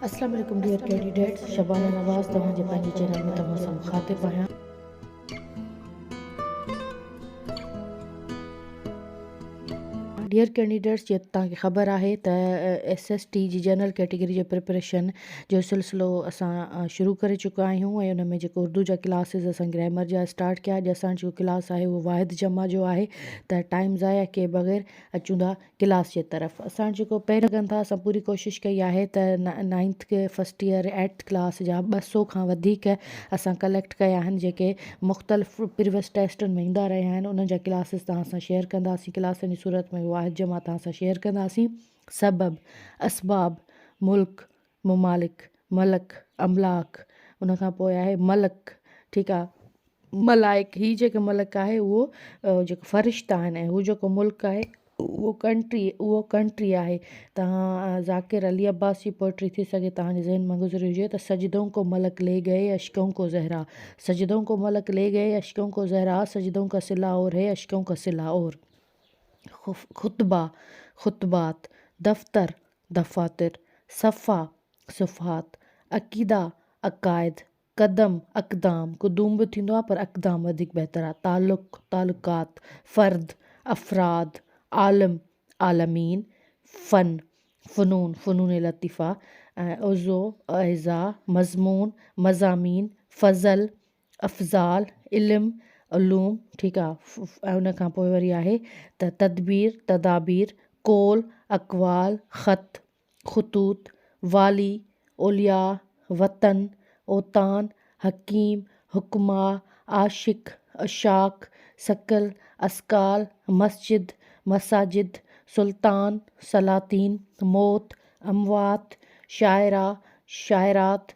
اسلام عليڪم dear candidates Shabana Nawaz توهان جي پنهنجي چينل ۾ توهان سان مخاطب آهيان. ڊيئر ڪينڊيڊيٽس جي توهان کي خبر آهي ته ايس ايس ٽي جي جنرل ڪيٽيگري جي پريپريشن جو سلسلو اسان شروع ڪري چڪا آهيون ۽ ان ۾ جيڪو اردو جا ڪلاسز اسان گرامر جا اسٽارٽ ڪيا اڄ اسان جو ڪلاس آهي اهو واحد جمع جو آهي ته ٽائيم ضايع ڪئي بغير اچون ٿا ڪلاس جي طرف اسان جيڪو پي لڳن ٿا اسان پوري ڪوشش ڪئي آهي ته نائنٿ کي فسٽ ايئر ايٽ ڪلاس جا ٻه سو کان وڌيڪ اسان ڪليڪٽ ڪيا آهن جيڪي مختلف پريوس ٽيسٽن ۾ ايندا رهيا آهن انهن جا ڪلاسز توهان سان شيئر ڪنداسين ڪلاسن جي صورت ۾ واحد جمع توهان سان شيئر ڪنداسين سبب اسباب ملڪ ممالڪ، ملڪ، املاڪ ان کان پوء آهي ملڪ ٺيڪ آ ملائڪ هي جيڪو ملڪ آهي اهو جيڪو فرشته آهن ۽ هو جيڪو ملڪ آهي اهو ڪنٽري اهو ڪنٽري آهي تهان ذاڪر علي عباس جي پوئٽري ٿي سگهي تهانجي ذهن مان گذري هجي ته سجدون ڪو ملڪ لي گئي اشڪون ڪو زهرا سجدون ڪو ملڪ لي گئي اشڪون ڪو زهرا سجدون ڪا صلا اور هي اشڪون ڪا صلا اور خطبا خطبات دفتر دفاتر، صفحا، صفحات، عقيدا، عقائد، قدم، اقدام، قدوم به ٿيندو آهي پر اقدام وڌيڪ بهتر آهي، تعلق، تعلقات، فرد، افراد، عالم، عالمين، فن، فنون، فنون لطيفه، عضو، اعضاء، مضمون، مضامين، فضل، افضال، علم، علوم، ٺيڪ آ. ۽ ان کان پوء وري آهي ته تدبير، تدابير، قول، اقوال، خط، خطوط، والي، اولياء، وطن، اوطان، حڪيم، حڪماء، عاشق، عشاق، ثقل، اثقال، مسجد، مساجد، سلطان، سلاطين، موت، اموات، شاعرا، شاعرات،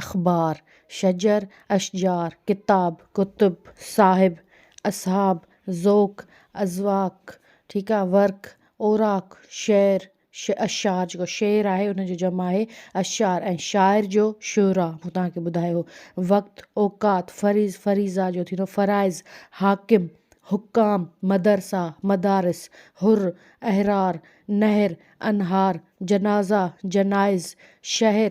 اخبار، شجر، اشجار، ڪتاب، ڪتب، صاحب، اصحاب، ذوق، اذواق، ٺيڪ آ، ورق، اوراق، شعر، اشعار جيڪو شعر آهي ان جو جمع آهي اشعار ۽ شاعر جو شعراء مون توهان کي ٻڌايو، وقت، اوقات، فريض، فريضا جو ٿيندو فرائض، حاڪم، حڪام، مدرسا، مدارس، حر، احرار، نهر، انهار، جنازا، جنائز، شهر،